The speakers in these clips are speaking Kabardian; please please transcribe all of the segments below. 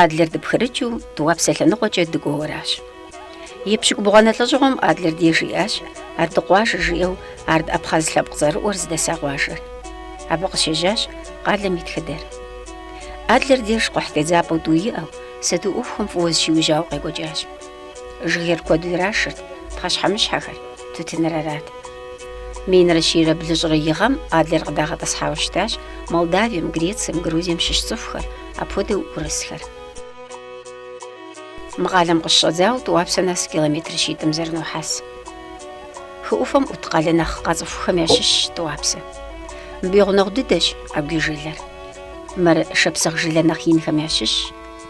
Адлер дыпхырыкӏыу Тӏуапсэ лъэныкъуэкӏэ дыкӏуэу аращ. Епщыкӏубгъуанэ лӏэщӏыгъуэм Адлер деж иӏащ Ард къуажэ жиӏэу Ард Абхъаз лъэпкъ цӏэрыӏуэр зыдэса къуажэр. Абы къыщежьащ къалэм и тхыдэр. Адлер деж къухь тедзапӏэу тӏу иӏэу, сату ӏуэхухэм фӏыуэ зыщиужьауэ къекӏуэкӏащ. Жыгейр куэду ирашырт, пхъэщхьэмыщхьэхэр, тутыныр арат. Минрэ щийрэ блыщӏрэ и гъэм Адлер къыдагъэтӏысхьауэ щытащ Молдавием, Грецием, Грузием щыщ цӏыхухэр, апхуэдэу урысхэр. Мы къалэм къыщыщӏэдзауэ Тӏуапсэ нэс километр щитӏым зэрынохьэс. Хы ӏуфэм ӏут къалэ нэхъ къацӏыхухэм ящыщщ Тӏуапсэ. Мыбы и гъунэгъу дыдэщ Агуий жылэр. Мыр шапсыгъ жылэ нэхъ инхэм ящыщщ.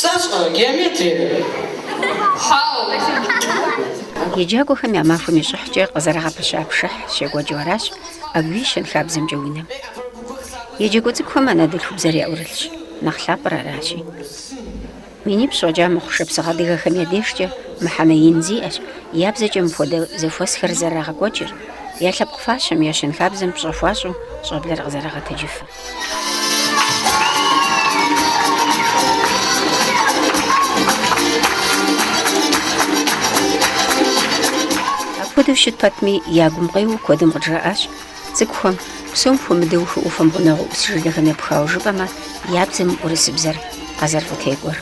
Сэ сщӏэрэ геометриер? Хьау! Еджакӏуэхэм я махуэм и щӏыхькӏэ къызэрагъэпэща пшыхь щекӏуэкӏыу аращ Агуий щэнхабзэмкӏэ унэм. Еджакӏуэ цӏыкӏухэм анэдэлъхубзэр яӏурылъщ, нэхъ лъапӏэр аращи. Минипщӏ фӏэкӏа мыхъу шапсыгъэ адыгэхэм я дежкӏэ мыхьэнэ ин зиӏэщ я бзэкӏэ мыпхуэдэ зэхуэсхэр зэрырагъэкӏуэкӏыр, я лъэпкъ фащэм, я щэнхабзэм пщӏэ хуащӏу щӏэблэр къызэрагъэтэджыфыр. Апхуэдэу щыт пэтми, я гум къеуэу куэдым къыджаӏащ цӏыкӏухэм, псом хуэмыдэу хы ӏуфэм гъунэгъуу ӏус жылэхэм епхауэ жыпӏэмэ, я бзэм урысыбзэр къазэрыфӏытекӏуэр.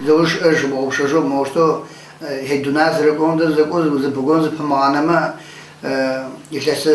Зэуж жыбгъупшэжу мощтэу Хьидунар зэрыкӏуэм дэ зэкӏуэу зыпыгуэн зыпымыгъанэмэ, илъэсы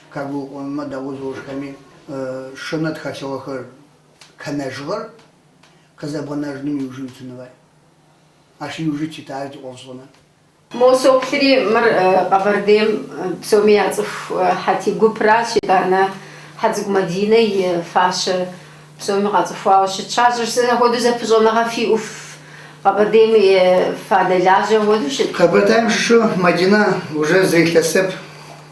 Кагуукъумэ дауэзощхэми шэнэу тхэлъыгъэхэр къэнэжыгъэр къызэбгъэнэжыным иужы уитын фай? Ащ иуж тит ары ди ӏофшӏэныр. Мо соплъри, мыр Къэбэрдейм псоми яцӏыху Хьэти гупыращ, итӏанэ Хьэцӏыкӏу Мадинэ и фащэ псоми къацӏыхуауэ щытщ. Ар сэ апхуэдэу зэпыщӏэныгъэ фиӏэу, Къэбэрдейм фадэлажьэу апхуэдэу щыт? Къэбэрдейм щыщу Мадинэ уже зы илъэсэп.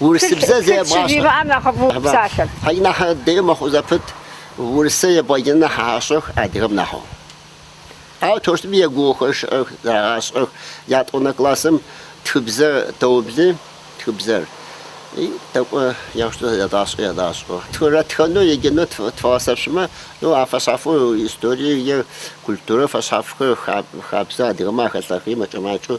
Урысыбзэ зэи ебгъащӏэ. Тхылъ щыжимыӏэм нэхъыфӏу псалъэт. Хьау нэхъ дэй мэхъу зэпыт, урысэ ебгъэджэну нэхъ ащӏэх адыгэм нэхъыу. Ауэ тощтыми егугъухэр щыӏэх, зэрагъащӏэх ятӏонэ классым тхыбзэр тоубли, тхыбзэри тӏэкӏу ящӏу зэдащӏэ ядащӏэу. Тхырэ тхэну еджэну тфыгъэсэпщымэ, ну а фэщхьафу историе е культурэ фэщхьафхэр хабзэ адыгэмэ ахэлъэхъи мэкӏэ-макӏэу.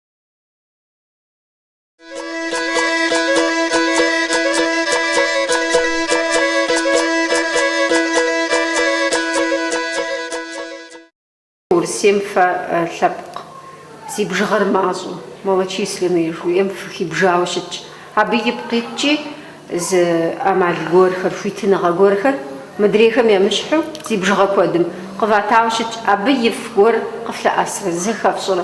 Урысейм фэ лъэпкъ, зи бжыгъэр мащӏэу, малочисленнэ жыхуиӏэм фыхибжауэ щытщ. Абы ипкъ иткӏи зы ӏэмал гуэрхэр, хуитыныгъэ гуэрхэр, мыдрейхэм емыщхьу, зи бжыгъэ куэдым къыватауэ щытщ. Абы ифӏ гуэр къыфлъэӏэсрэ, зэхэфщӏэрэ?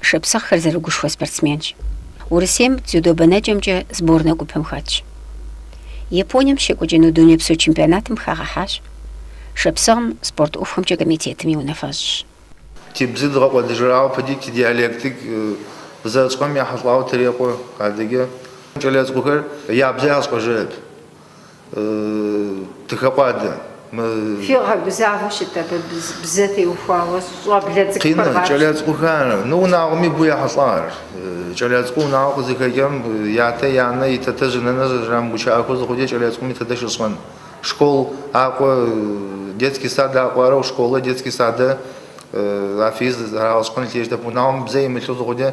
Шапсыгъхэр зэрыгушхуэ спортсменщ. Урысейм дзюдо бэнэкӏэмкӏэ сборнэ гупым хэтщ. Японием щекӏуэкӏыну дунейпсо чемпионатым хагъэхьащ. Шапсыгъым спорт ӏуэхухэмкӏэ комитетым и унафэщӏщ. Ти бзэр дгъэкӏуэдыжырауэ пыди ти диалектик зэрыщӏхэм ехьэлӏауэ тырекъуэ. Адыгэ кӏэлэцӏыкӏухэр я бзэр ящӏэжырэп. Тыхэкъуадэ мы. Фигъэгузавэу щыт абы бзэ теухуауэ щӏэблэ цӏыкӏухэр гъапщ. Къины, кӏэлэ цӏыкӏухэр, ну унагъуэми боу ехьэлӏа ар. Кӏэлэ цӏыкӏу унагъуэ къызыхэкӏым ятэ, янэ, и тэтэжь, и нэнэжь рамыгучыӏэхэу зыхъукӏэ кӏэлэ цӏыкӏуми тэдэ щищӏэн. Школ акӏуэ, детский сад акӏуэ арэу школэ, детский садэ афиз зрагъэщӏэн лъейщтэп унагъуэм бзэ имылъу зыхъукӏэ.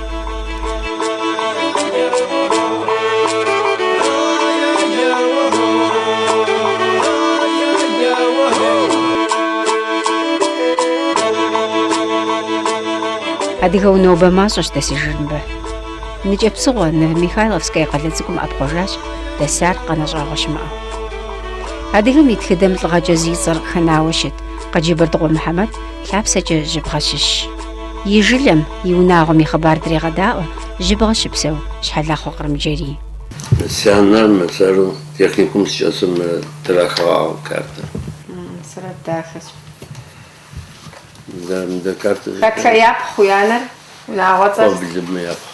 Адыгэу нобэ мащӏэщ дэсыжыр мыбы. Ныкӏэпсыхъуэ Новомихайловская къалэ цӏыкӏум ӏэпхъуэжащ дэсар къэнэщӏагъуэ щымыӏэу. Адыгэм и тхыдэм лӏыгъэкӏэ зи цӏэр къыхэнауэ щыт Къаджэбэрдыкъуэ Мухьэмэд лъапсэкӏэ Жьыбгъэ щыщщ. И жылэм, и унагъуэм и хъыбар дрегъэдаӏуэ Жьыбгъэ щыпсэу Щхьэлахъуэ Кърымджэрий. Си анэр мы сэры техникум сыкӏэсым трахыгъагъ картэр. Сурэт дахэщ. Мыдэ картэр. Хэтхэ япхъу уи анэр? Унагъуэцӏэр. Коблмэ япхъу.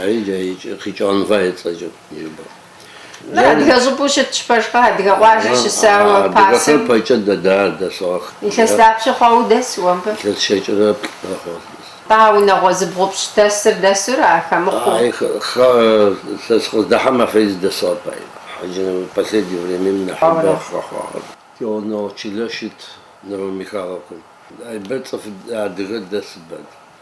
Ари дэ икӏи къикӏон фӏа ецӏэкӏым нежбэу. Нэ адыгэ щӏыпӏэу щытщ пэжкъэ, адыгэ къуажэ щысауэ пасэм. Адыгэхэр пэкӏэ дэсыгъэх. Илъэс дапщэ хъуа удэс уэ мыбы? Илъэс щэкӏырэ плӏырэ хъуа сыдэс. Нтӏэ а унагъуэ зыбгъупщӏ дэсыр дэсура, хэмыхъуу? Ай, хэ, сэ сыкъыздэхьэм афиз дэсыгъэп? Хьэджэ Нэмыр последнее времэм нэхъыбэ къыхэхъуагъэр. Кӏуэуно чылэ щыт Новомихайловкэм. Ай бэ цӏыф адыгэ дэсыбэт.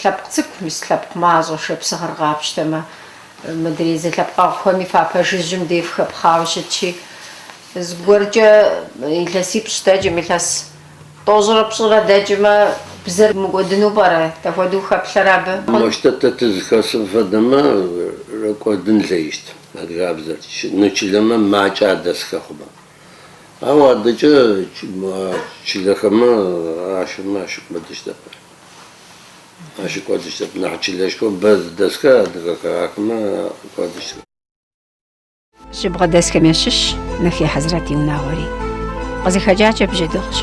Лъэпкъ цӏыкӏу мис лъэпкъ мащӏэ шапсыгъыр къапщтэмэ, мыдрей зэлъэпкъэгъухэми фапэ жыжьым дей фыхэпхъауэ щытщи, зыгуэркӏэ илъэсипщӏ дэкӏым, илъэс тӏощӏрэ пщӏырэ дэкӏмэ, бзэр мыкӏуэдыну пӏэрэ, дахуэдэу хэплъэрэ абы? Мощтэу тэ тызыхэсым фэдэмэ, рыкӏуэдын лейщт, адыгабзэр, ну чылэмэ макӏэ адэс хэхъумэ. Ауэ адэкӏэ чылэхэмэ ахэмэ ащыкӏуэдыщтэп. Ащыкӏуэдыщтэп. Нэхъ чылэшхуэ бэ зыдэсхэр адыгэхэр ахэмэ кӏуэдыщтэп. Жьыбгъэ дэсхэм ящыщщ Нэхей Хьэзрэт и унагъуэри. Къызыхэкӏакӏэ бжьэдыгъущ.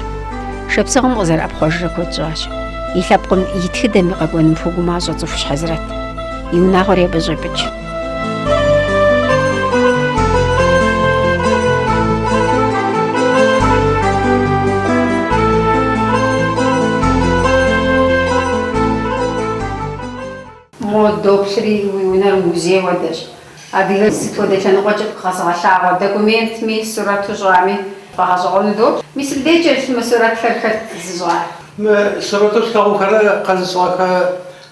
Шапсыгъым къызэрыӏэпхъуэжрэ куэд щӏащ. И лъэпкъым и тхыдэми къэкӏуэным хуэгумащӏэ цӏыхущ Хьэзрэт. И унагъуэри абы щӏепӏыкӏ. Мо, доплъри, уи унэр музей хуэдэщ. Адыгэр сыт хуэдэ лъэныкъуэкӏи къэзыгъэлъагъуэ документми, сурэту щӏами, тфӏэгъэщӏэгъуэну доплъ. Мис мыбдеджэ мы сурэтхэр хэт зыщӏар. Мы сурэту слъэгъухэр къэзыщӏыгъэхэ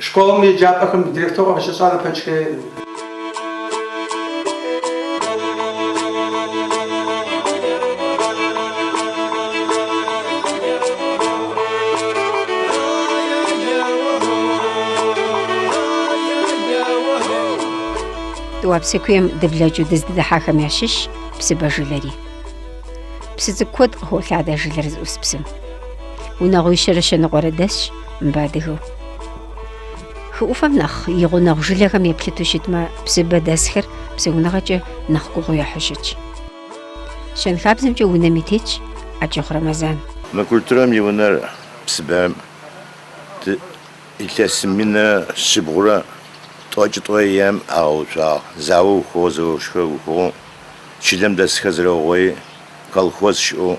Школым и еджапӏэхэм директоркъэ къыщыщӏар Апэчкэ. Тӏуапсэ куейм дыблэкӏыу дыздыдыхьахэм ящыщщ Псыбэ жылэри. Псы цӏыкӏу куэд къыхолъадэ жылэр зыӏус псым. Унагъуищэрэ щэныкъуэрэ дэсщ. Мыбы адыгэу. Хы ӏуфэм нэхъ и гъунэгъу жылэхэм еплъыту щытмэ, Псыбэ дэсхэр псэуныгъэкӏэ нэхъ гугъу ехьу щытщ. Щэнхабзэмкӏэ унэм и тетщ Ӏэкӏыхъу Рэмэзан. Мы культурэм и унэр Псыбэм илъэс минрэ щыбгъурэ тӏокӏытӏуэ ем агъэуцуагъ. Зауэ ухыгъэ, зэошхэр ухыгъэу, чылэм дэсхэр зэрэугъуей, колхоз щыӏэу,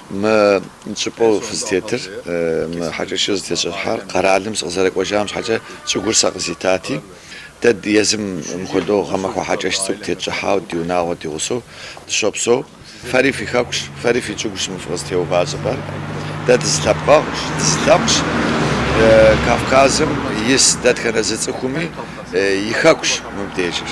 Мы щӏыпӏэу фызытетыр, мы хьэкӏэщыр зытещӏыхьар къэралым сыкъызэрыкӏуэжам щхьэкӏэ щӏыгур сэ къызитати. Дэ езым мыхуэдэу гъэмахуэ хьэкӏэщ цӏыкӏу тетщӏыхьауэ ди унагъуэ ди гъусэу дыщопсэу. Фэри фи хэкущ, фэри фи щӏыгущ мы фыкъызытеува щӏыпӏэр. Дэ дызэлъэпкъэгъущ, дызылъэпкъщ. Кавказым ис дэтхэнэ зы цӏыхуми и хэкущ мыбдежыр.